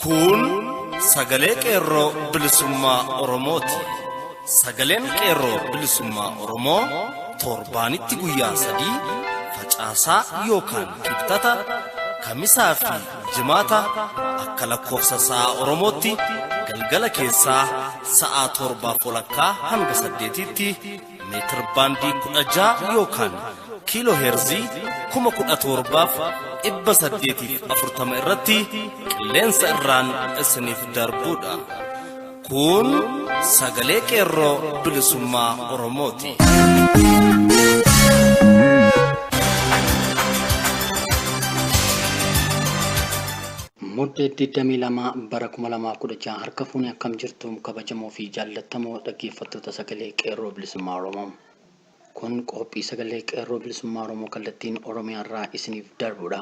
Kun sagalee qeerroo bilisummaa Oromooti. Sagaleen qeerroo bilisummaa Oromoo torbaanitti guyyaa sadii facaasaa yookaan kibxata kamisaa fi Jimaata akka lakkoofsa sa'a Oromootti galgala keessaa sa'a torbaaf walakkaa hanga saddeetiitti meetir baandii kudha ja'a yookaan kiiloo heerzii kuma kudha torbaaf dhibba saddeetiif afurtama irratti qilleensa irraan isiniif darbuudha. Kun sagalee qeerroo bilisummaa Oromooti. Mudde 22 bara 2016 harka fuunee akkam jirtu kabajamoo fi jaallattamoo dhaggeeffattoota sagalee qeerroo bilisummaa Oromoo. Kun qophii sagalee qeerroo bilisummaa Oromoo kallattiin Oromiyaa irraa isiniif darbudha.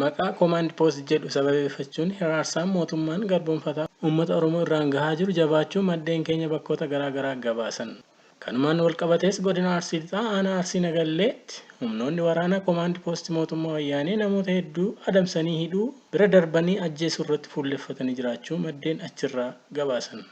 Maqaa Command Post jedhu sababeeffachuun hiraarsaan mootummaan garboomfataa uummata Oromoo irraan gahaa jiru jabaachuu maddeen keenya bakkoota garaa garaa gabaasan. Kanumaan walqabatees Godina Arsii Lixaa Aanaa Arsii Nagalleetti humnoonni waraana Command Post mootummaa Wayyaanee namoota hedduu adamsanii hidhuu bira darbanii ajjeesuu irratti fuulleffatanii jiraachuu maddeen achirraa gabaasan.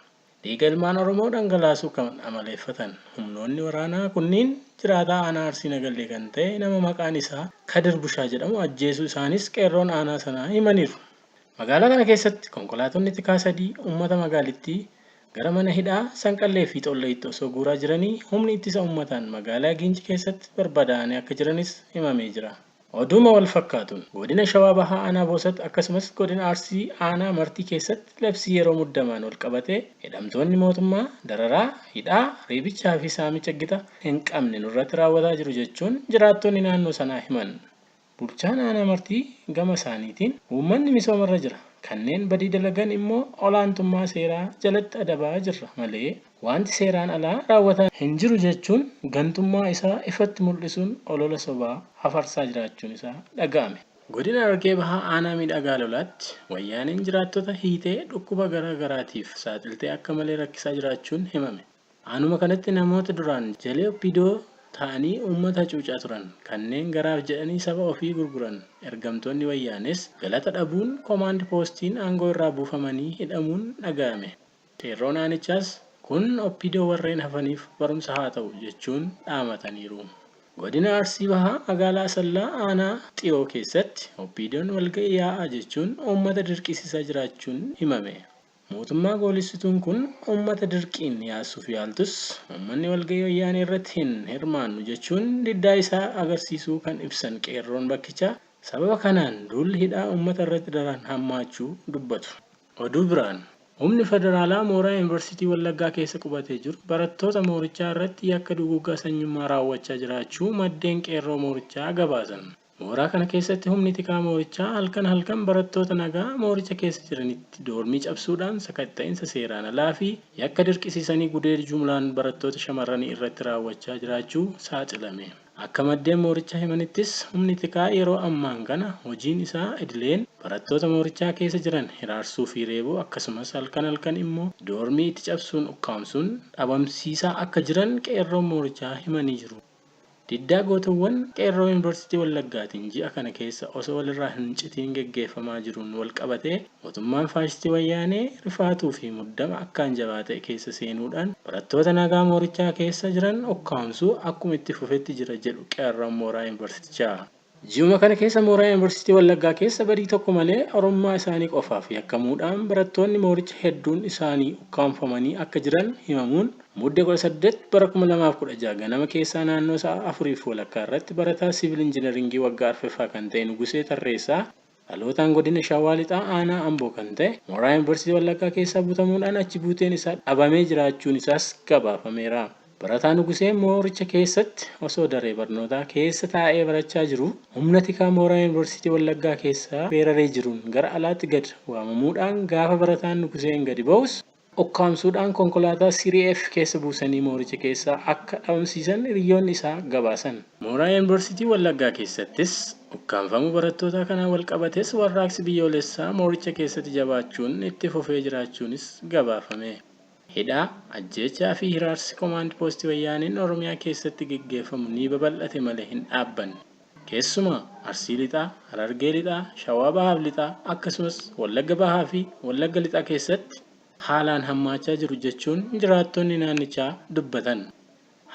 Dhiiga ilmaan Oromoo dhangalaasuu kan amaleeffatan humnoonni waraanaa kunniin jiraataa aanaa Arsii Nagallee kan ta'e nama maqaan isaa Kadir Bushaa jedhamu ajjeesuu isaaniis qeerroon aanaa sanaa himaniiru. Magaalaa kana keessatti konkolaatonni tikaa sadii ummata magaalittii gara mana hidhaa Sanqallee fi Xolloyitti osoo guuraa jiranii humni ittisa ummataan magaalaa Giinci keessatti barbadaa'anii akka jiranis himamee jira. Oduuma walfakkaatuun, Godina Shawaa Bahaa Aanaa Boosat akkasumas Godina Arsii Aanaa Martii keessatti labsii yeroo muddamaan walqabatee hidhamtoonni mootummaa dararaa, hidhaa, reebichaa fi saamicha gita hin qabne nurratti raawwataa jiru jechuun jiraattonni naannoo sanaa himan. Bulchaan Aanaa Martii gama isaaniitiin, uummanni misoomarra jira, kanneen badii dalagan immoo olaantummaa seeraa jalatti adabaa jirra malee, Waanti seeraan alaa raawwataa hin jiru jechuun gantummaa isaa ifatti mul'isuun olola sobaa hafarsaa jiraachuun isaa dhaga'ame. Godina Harargee Bahaa Aanaa Miidhagaa Lolaatti Wayyaaneen jiraattota hiitee dhukkuba gara garaatiif saaxiltee akka malee rakkisaa jiraachuun himame. Aanuma kanatti namoota duraan jalee opdo ta'anii uummata hacuucaa turan kanneen garaaf jedhanii saba ofii gurguran ergamtoonni Wayyaanees galata dhabuun komaand poostiin aangoo irraa buufamanii hidhamuun dhaga'ame. Qeerroon aanichaas kun opdo warreen hafaniif barumsa haa ta'u jechuun dhaamataniiru. Godina Arsii Bahaa magaalaa Asallaa aanaa Xiyoo keessatti opdon walga'ii yaa'aa jechuun uummata dirqiisisaa jiraachuun himame. Mootummaa goolessituun kun uummata dirqiin yaassuuf yaaltus uummanni walga'ii wayyaanee irratti hin hirmaannu jechuun diddaa isaa agarsiisuu kan ibsan qeerroon bakkichaa sababa kanaan duulli hidhaa uummata irratti daran hammaachuu dubbatu. Oduu biraan, humni federaalaa mooraa Yuunivarsiitii Wallaggaa keessa qubatee jiru barattoota moorichaa irratti yakka duguuggaa sanyummaa raawwachaa jiraachuu maddeen Qeerroo moorichaa gabaasan. Mooraa kana keessatti humni tikaa moorichaa halkan halkan barattoota nagaa mooricha keessa jiranitti doormii cabsuudhaan sakatta'insa seeraan alaa fi yakka dirqisiisanii gudeed jumlaan barattoota shamarranii irratti raawwachaa jiraachuu saaxilame. Akka maddeen moorichaa himanittis humni tikaa yeroo ammaan kana hojiin isaa idileen barattoota moorichaa keessa jiran hiraarsuu fi reebuu akkasumas halkan halkan immoo doormii itti cabsuun ukkaamsuun dhabamsiisaa akka jiran qeerroon moorichaa himanii jiru. Diddaa gootowwan qeerroo Yuunivarsiitii Wallaggaatiin ji'a kana keessa osoo walirraa hin citiin geggeeffamaa jiruun walqabatee, Mootummaan faashistii Wayyaanee rifaatuu fi muddama akkaan jabaa ta'e keessa seenuudhaan barattoota nagaa moorichaa keessa jiran ukkaamsuu akkuma itti fufetti jira jedhu qeerroon mooraa Yuunivarsiitichaa. Ji'uma kana keessa mooraa Yuunivarsiitii Wallaggaa keessa badii tokko malee Oromummaa isaanii qofaaf yakkamuudhaan barattoonni mooricha hedduun isaanii ukkaamfamanii akka jiran himamuun Mudde 18 bara 2016 ganama keessaa naannoo sa'a 4 fi walakkaa irratti barataa Siivil Injinariingii waggaa arfeffaa kan ta'e Nugusee Tarreessaa Dhalootaan Godina Shawaa Lixaa Aanaa Amboo kan ta'e, mooraa Yunivarsiitii Wallaggaa keessaa butamuudhaan achi buuteen isaa dhabamee jiraachuun isaas gabaafameera. Barataa Nugusee mooricha keessatti osoo daree barnootaa keessa taa'ee barachaa jiruu humna tikaa mooraa Yunivarsiitii Wallaggaa keessaa weeraree jiruun gara alaatti gad waamamuudhaan gaafa barataan Nuguseen gadi ba'us ukkaamsuudhaan konkolaataa Serie F keessa buusanii mooricha keessaa akka dhabamsiisan hiriyyoonni isaa gabaasan. Mooraa Yuunivarsiitii Wallaggaa keessattis ukkaamfamuu barattootaa kanaan walqabatees warraaqsi biyyoolessaa mooricha keessatti jabaachuun itti fufee jiraachuunis gabaafame. Hidhaa, ajjeechaa fi hiraarsi Komaand Poostii Wayyaaneen Oromiyaa keessatti geggeeffamu ni babal'ate malee hin dhaabbanne. Keessumaa Arsii Lixaa, Harargee Lixaa, Shawaa Bahaaf Lixaa akkasumas Wallagga Bahaa fi Wallagga Lixaa keessatti haalaan hammaachaa jiru jechuun jiraattonni naannichaa dubbatan.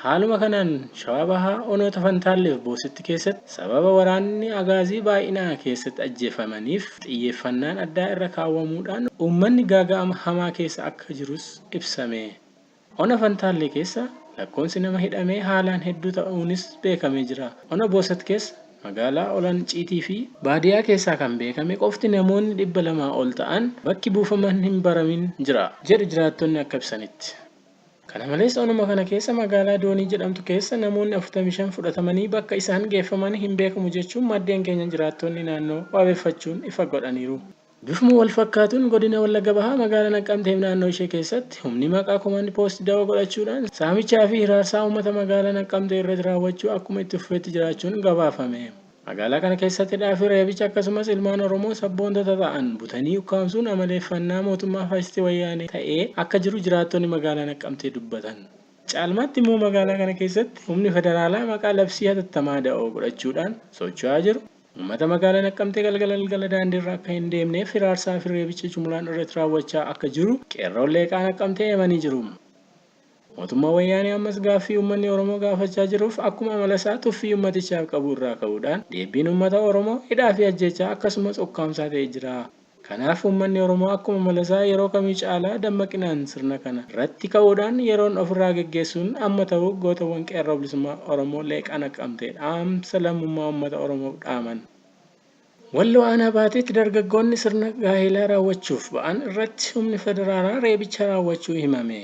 Haaluma kanaan Shawaa Bahaa onoota Fantaallee fi Boositti keessatti sababa waraanni Agaazii baay'inaa keessatti ajjeefamaniif xiyyeeffannaan addaa irra kaawwamuudhaan uummanni gaaga'ama hamaa keessa akka jirus ibsame. Ona Fantaallee keessa lakkoonsi nama hidhamee haalaan hedduu ta'uunis beekamee jira. Ona Boosat keessa magaalaa Olan Ciitii fi baadiyaa keessaa kan beekame qofti namoonni 200 ol ta'an bakki buufaman hin baramin jira, jedhu jiraattonni akka ibsanitti. Kana malees onuma kana keessa magaalaa Doonii jedhamtu keessa namoonni 45 fudhatamanii bakka isaan geeffaman hin beekamu jechuun maddeen keenya jiraattonni naannoo waabeffachuun ifa godhaniiru. Bifuma walfakkaatuun Godina Wallagga Bahaa Magaala Naqqamteef naannoo ishee keessatti humni maqaa Command Post dawoo godhachuudhaan saamichaa fi hiraarsaa uummata Magaala Naqqamtee irratti raawwachuu akkuma itti fufetti jiraachuun gabaafame. Magaalaa kana keessatti hidhaa fi reebicha akkasumas ilmaan Oromoo sabboontota ta'an butanii ukkaamsuun amaleeffannaa mootummaa faashistii Wayyaanee ta'ee akka jiru jiraattonni Magaalaa Naqqamtee dubbatan. Caalmaatti immoo magaalaa kana keessatti humni federaalaa maqaa labsii hatattamaa da'oo godhachuudhaan socho'aa jiru. Uummata magaalaa Naqqamtee galgala galgala daandiirra akka hin deemneef hiraarsaa fi reebicha jumlaan irratti raawwachaa akka jiru qeerroon Leeqaa Naqqamtee himanii jiru. Mootummaan Wayyaanee ammas gaaffii uummanni Oromoo gaafachaa jiruuf akkuma amala isaa tuffii uummatichaaf qabu irraa ka'uudhaan deebbiin uummata Oromoo hidhaa fi ajjeechaa akkasumas ukkaamsaa ta'ee jira. Kanaaf uummanni Oromoo akkuma Malasaa yeroo kamii caalaa dammaqinaan sirna kana irratti ka'uudhaan yeroon of irraa geggeessuun amma ta'uu gootowwan Qeerroo Bilisummaa Oromoo Leeqaa Naqqamtee dhaamsa lammummaa uummata Oromoof dhaaman. Walloo Aanaa Baateetti dargaggoonni sirna gaa'eelaa raawwachuuf ba'an irratti humni federaalaa reebicha raawwachuu himame.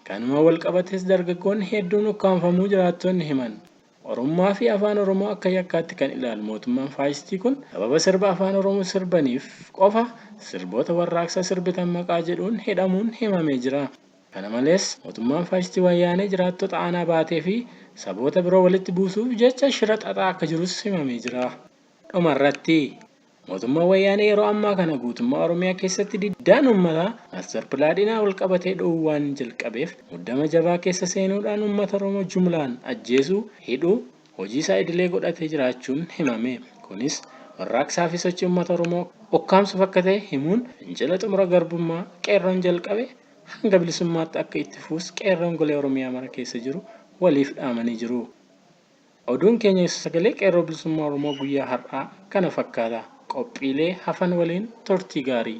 Kanumaan walqabatees dargaggoonni hedduun ukkaamfamuu jiraattonni himan. Oromummaa fi Afaan Oromoo akka yakkaatti kan ilaalu mootummaan faashistii kun sababa sirba Afaan Oromoo sirbaniif qofa sirboota warraaqsaa sirbitan maqaa jedhuun hidhamuun himamee jira. Kana malees, mootummaan faashistii Wayyaanee jiraattota aanaa Baatee fi saboota biroo walitti buusuuf jecha shira xaxaa akka jirus himamee jira. Dhuma irratti. Mootummaan Wayyaanee yeroo ammaa kana guutummaa Oromiyaa keessatti diddaan uummataa Master Plaadhinaa walqabatee dho'uu waan jalqabeef muddama jabaa keessa seenuudhaan uummata Oromoo jumlaan ajjeesuu, hidhuu hojii isaa idilee godhatee jiraachuun himame. Kunis warraaqsaa fi sochii uummata Oromoo ukkaamsuuf akka ta'e himuun fincila xumura garbummaa Qeerroon jalqabe hanga bilisummaatti akka itti fufus Qeerroon golee Oromiyaa mara keessa jiru waliif dhaamanii jiru. Oduun keenya isa Sagalee Qeerroo Bilisummaa Oromoo guyyaa har'aa kana fakkaata. Qophiilee hafan waliin turtii gaarii!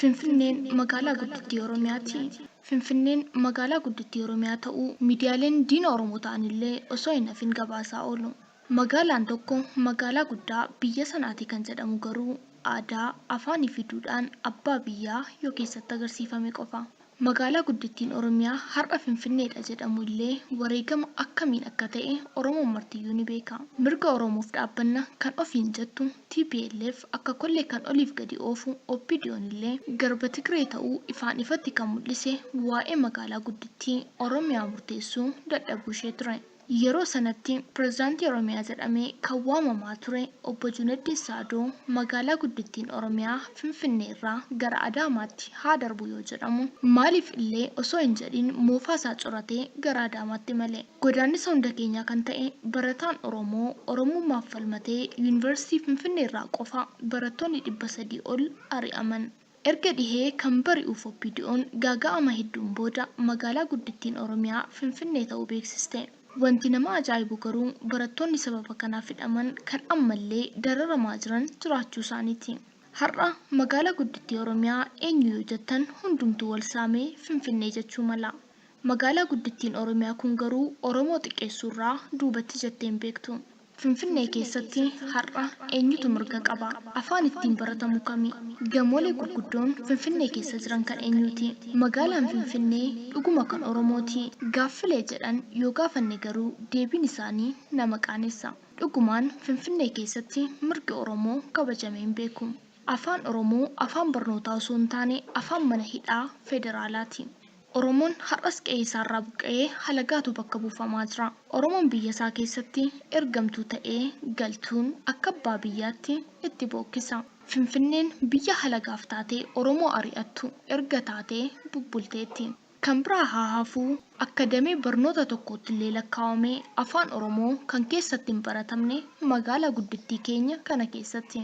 Finfinneen magaalaa guddittii Oromiyaati. Finfinneen magaalaa guddittii Oromiyaa ta'uu miidiyaaleen diina Oromoo ta'an illee osoo hin hafin gabaasaa oolu. Magaalaan tokko magaalaa guddaa biyya sanaati kan jedhamu garuu aadaa, afaanii fi duudhaan abbaa biyyaa yoo keessatti agarsiifame qofa. Magaalaa guddittiin Oromiyaa har'a Finfinneedha jedhamu illee wareegama akkamiin akka ta'e Oromoon martiyyuu ni beeka. Mirga Oromoof dhaabbanna kan ofiin jettu tplf akka kollee kan oliif gadi oofu OPDOn illee garba Tigree ta'uu ifaan ifatti kan mul'ise waa'ee magaalaa guddittii Oromiyaa murteessuu dadhabuu ishee ture. Yeroo sanatti pirezidaantii Oromiyaa jedhamee kan waamamaa ture Obbo Juneddin Saadoo magaalaa guddittiin Oromiyaa Finfinnee irraa gara Adaamaatti haa darbu yoo jedhamu maaliif illee osoo hin jedhin moofaa isaa curatee gara Adaamaatti imale. Godaannisa hunda keenyaa kan ta'e barataan Oromoo Oromummaaf falmatee Yuunivarsiitii Finfinnee irraa qofa barattoonni 300 ol ari'aman. Erga dhihee kan bari'uuf OPDOn gaaga'ama hedduun booda magaalaa guddittiin Oromiyaa Finfinnee ta'uu beeksiste. Wanti nama ajaa'ibu garuu barattoonni sababa kanaaf hidhaman kan ammallee dararamaa jiran jiraachuu isaaniiti. Har'a magaalaa guddittii Oromiyaa eenyu yoo jettan hundumtuu wal saamee Finfinnee jechuu mala. Magaalaa guddittiin Oromiyaa kun garuu Oromoo xiqqeessuurraa duubatti jettee hin beektu. Finfinnee keessatti har'a eenyutu mirga qaba? Afaan ittiin baratamu kami? Gamoolee gurguddoon Finfinnee keessa jiran kan eenyuuti? Magaalaan Finfinnee dhuguma kan Oromooti? Gaaffilee jedhan yoo gaafanne garuu deebiin isaanii nama qaanessa. Dhugumaan Finfinnee keessatti mirgi Oromoo kabajamee hin beeku. Afaan Oromoo afaan barnootaa osoo hin taane afaan mana hidhaa federaalaati. Oromoon har'as qe'ee isaarraa buqqa'ee halagaatu bakka buufamaa jira. Oromoon biyya isaa keessatti ergamtuu ta'ee galtuun akka abbaa biyyaatti itti bookkisa. Finfinneen biyya halagaaf taatee Oromoo ari'attu erga taatee bubbulteetti. Kan biraa haa hafuu akka damee barnoota tokkoottillee lakkaawamee Afaan Oromoo kan keessatti hin baratamne magaalaa guddittii keenya kana keessatti.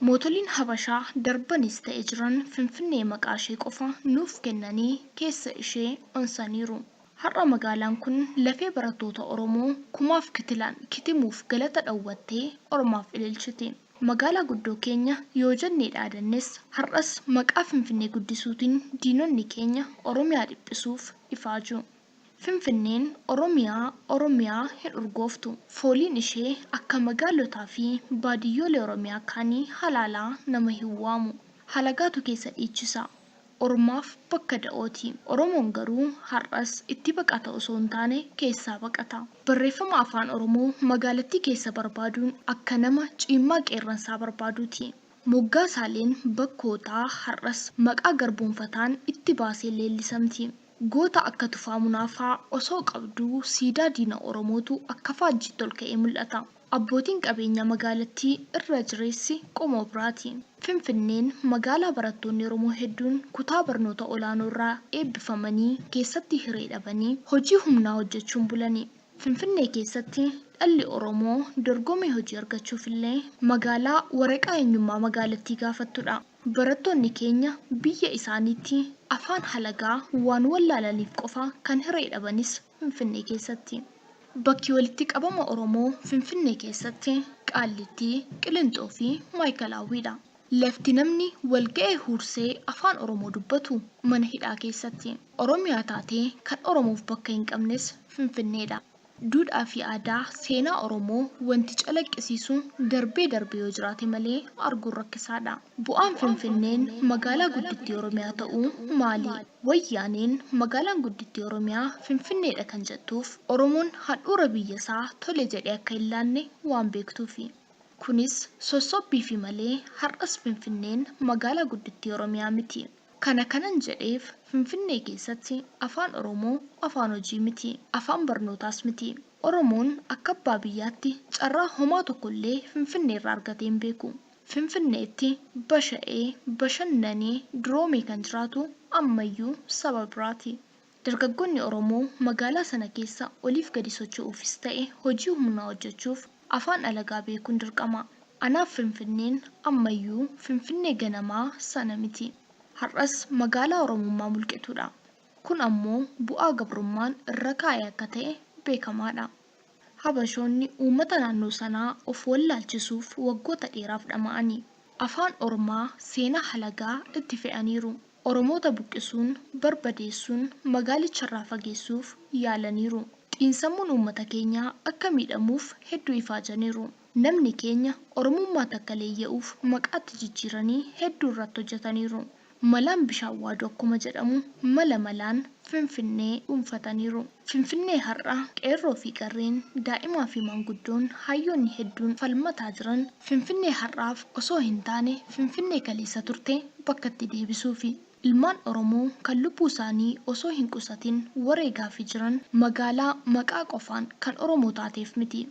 Mootoliin Habashaa darbanis ta'e jiran Finfinnee maqaashee qofa nuuf kennanii keessa ishee onsaniiru. Har'a magaalaan kun lafee barattoota Oromoo kumaaf kitilaan kitimuuf galata dhowwattee ormaaf ililchiti. Magaalaa guddoo keenya yoo jennee dhaadannes har'as maqaa Finfinnee guddisuutiin diinonni keenya Oromiyaa dhiphisuuf ifaaju. Finfinneen Oromiyaa, Oromiyaa hin urgooftu. Fooliin ishee akka magaalotaa fi baadiyyoolee Oromiyaa kaanii halaalaa nama hin waamu. Halagaatu keessa dhiichisa. Ormaaf bakka da'ooti. Oromoon garuu har'as itti baqata osoo hin taane keessaa baqata. Barreeffama Afaan Oromoo magaalattii keessa barbaaduun akka nama ciimmaa qeerransaa barbaaduuti. Moggaasaaleen bakkootaa har'as maqaa garboomfataan itti baaseen leellisamti. Goota akka Tufaa Munaa faa osoo qabduu siidaa diina Oromootu akka faajjiitti ol ka'ee mul'ata. Abbootiin qabeenyaa magaalattii irra jireessi qomoo biraati. Finfinneen magaalaa barattoonni Oromoo hedduun kutaa barnoota olaanoo irraa eebbifamanii keessatti hiree dhabanii hojii humnaa hojjechuun bulani. Finfinnee keessatti dhalli Oromoo dorgomee hojii argachuuf illee magaalaa waraqaa eenyummaa magaalattii gaafattudha. Barattoonni keenya biyya isaaniitti afaan halagaa waan wallaalaniif qofa kan hiree dhabanis Finfinnee keessatti. Bakki walitti qabama Oromoo Finfinnee keessatti Qaallittii, Qilinxoo fi Maayikalaawwii dha. Lafti namni wal ga'ee huursee afaan Oromoo dubbatu mana hidhaa keessatti. Oromiyaa taatee kan Oromoof bakka hin qabnes Finfinnee dha. Duudhaafi aadaa, seenaa Oromoo wanti calaqqisiisu darbee darbee yoo jiraate malee arguun rakkisaadha. Bu'aan Finfinneen magaalaa guddittii Oromiyaa ta'uu maali? Wayyaaneen magaalaan guddittii Oromiyaa Finfinneedha kan jettuuf Oromoon handhuura biyyasaa tole jedhee akka hin laanne waan beektuufi. Kunis sossobbiifi malee har'as Finfinneen magaalaa guddittii Oromiyaa miti. Kana kanan jedheef Finfinnee keessatti Afaan Oromoo afaan hojii miti, afaan barnootaas miti. Oromoon akka abbaa biyyaatti carraa homaa tokko illee Finfinneerraa argatee hin beeku. Finfinneetti basha'ee, bashannanee, duroomee kan jiraatu ammayyuu saba biraati. Dargaggoonni Oromoo magaalaa sana keessa oliif gadi socho'uufis ta'e hojii humnaa hojjechuuf afaan alagaa beekuun dirqama. Anaaf Finfinneen ammayyuu Finfinnee ganamaa sana miti. Har'as magaalaa Oromummaa mulqituudha. Kun ammoo bu'aa gabrummaan irra kaa'e akka ta'e beekamaadha. Habashoonni uummata naannoo sanaa of wallaalchisuuf waggoota dheeraaf dhama'anii, afaan ormaa, seenaa halagaa itti fe'aniiru. Oromoota buqqisuun, barbadeessuun, magaalicharraa fageessuuf yaalaniiru. Xiinsammuun uummata keenyaa akka miidhamuuf hedduu ifaajaniiru. Namni keenya Oromummaa takka leeyya'uuf maqaa itti jijjiiranii hedduu irratti hojjataniiru. Malaan bishaan waadu akkuma jedhamu mala malaan Finfinnee dhuunfataniiru. Finfinnee har'a qeerroo fi qarreen, daa'imaa fi maanguddoon, hayyoonni hedduun falmataa jiran Finfinnee har'aaf osoo hin taane Finfinnee kaleessa turte bakkatti deebisuufi. Ilmaan Oromoo kan lubbuu isaanii osoo hin qusatin wareegaafi jiran magaalaa maqaa qofaan kan Oromoo taateef miti.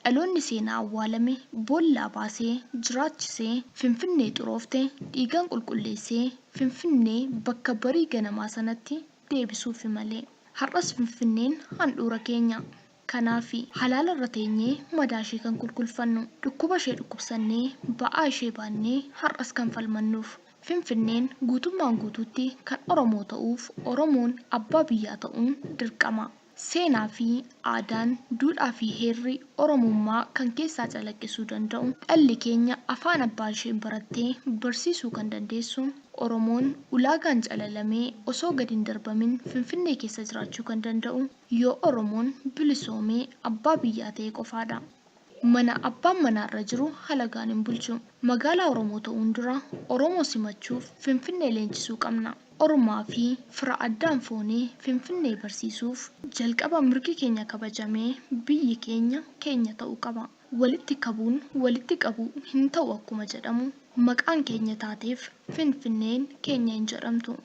Dhaloonni seenaa awwaalame boollaa baasee jiraachisee Finfinnee xuroofte dhiigaan qulqulleessee Finfinnee bakka barii ganamaa sanatti deebisuufi malee. Har'as Finfinneen handhuura keenya. Kanaafi, halaala irra teenyee madaa ishee kan kulkulfannu, dhukkuba ishee dhukkubsannee ba'aa ishee baannee har'as kan falmannuuf. Finfinneen guutummaan guutuutti kan Oromoo ta'uuf Oromoon abbaa biyyaa ta'uun dirqama. Seenaa fi aadaan, duudhaa fi heerri Oromummaa kan keessaa calaqqisuu danda'u, dhalli keenya afaan abbaa isheen baratte barsiisuu kan dandeessu, Oromoon ulaagaan calalamee osoo gad hin darbamin Finfinnee keessa jiraachuu kan danda'u, Yoo Oromoon bilisoomee abbaa biyyaa ta'e qofaadha. Mana abbaan manaa irra jiru halagaan hin bulchu. Magaalaa Oromoo ta'uun dura Oromoo simachuuf Finfinnee leenjisuu qabna. Ormaa fi fira addaan foonee Finfinnee barsiisuuf jalqaba mirgi keenya kabajamee biyyi keenya keenya ta'uu qaba. Walitti kabuun walitti qabuu hin ta'u akkuma jedhamu maqaan keenya taateef Finfinneen keenya hin jedhamtu.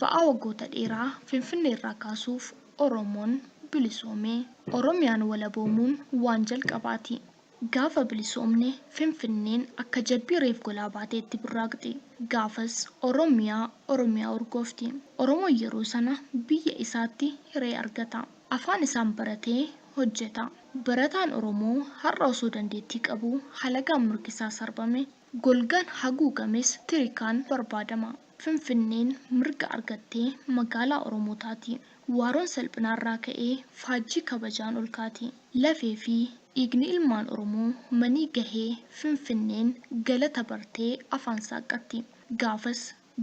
Ba'aa waggoota dheeraa Finfinnee irraa kaasuuf Oromoon bilisoome. Oromiyaan walaboomuun waan jalqabaati. Gaafa bilisoomne Finfinneen akka jabbii reef golaa baateetti burraaqxi. Gaafas Oromiyaa Oromiyaa urgoofti. Oromoon yeroo sana biyya isaatti hiree argata. Afaan isaan baratee hojjeta. Barataan Oromoo har'a osoo dandeettii qabuu halagaan mirgisaa sarbame, golgaan haguugames tirikaan barbaadama. Finfinneen mirga argatte magaalaa Oromootaati. Waaroon salphinaarraa ka'ee faajjii kabajaan ol kaati. Lafee fi dhiigni ilmaan Oromoo manii gahee Finfinneen galata bartee afaan saaqqatti. Gaafas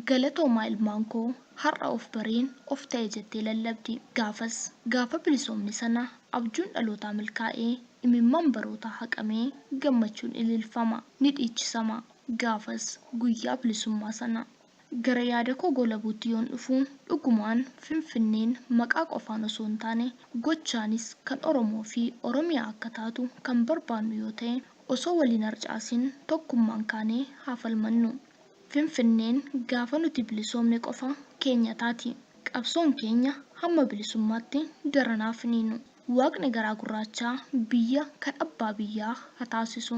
Galatoomaa ilmaan koo har'a of bareen of ta'e jettee lallabdi. Gaafas gaafa bilisoomne sana abjuun dhalootaa milkaa'ee imimmaan barootaa haqamee gammachuun ililfama. Ni dhiichisama. Gaafas, guyyaa bilisummaa sana, gara yaada koo goolabuutti yoon dhufu, dhugumaan Finfinneen maqaa qofaan osoo hin taane, gochaanis kan Oromoo fi Oromiyaa akka taatu kan barbaannu yoo ta'e, osoo wal hin harcaasin tokkummaan kaanee haa falmannu. Finfinneen gaafa nuti bilisoomne qofa keenya taati. Qabsoon keenya hamma bilisummaatti daran haa finiinu. Waaqni garaa gurraachaa biyya kan abbaa biyyaa ha taasisu.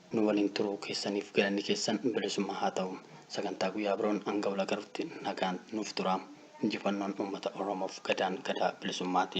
Nu waliin turuu keessaniif galanni keessan bilisummaa haa ta'u. Sagantaa guyyaa biroon hanga wal agarutti nagaan nuuf turaa. Injifannoon uummata Oromoof Gadaan Gadaa Bilisummaati.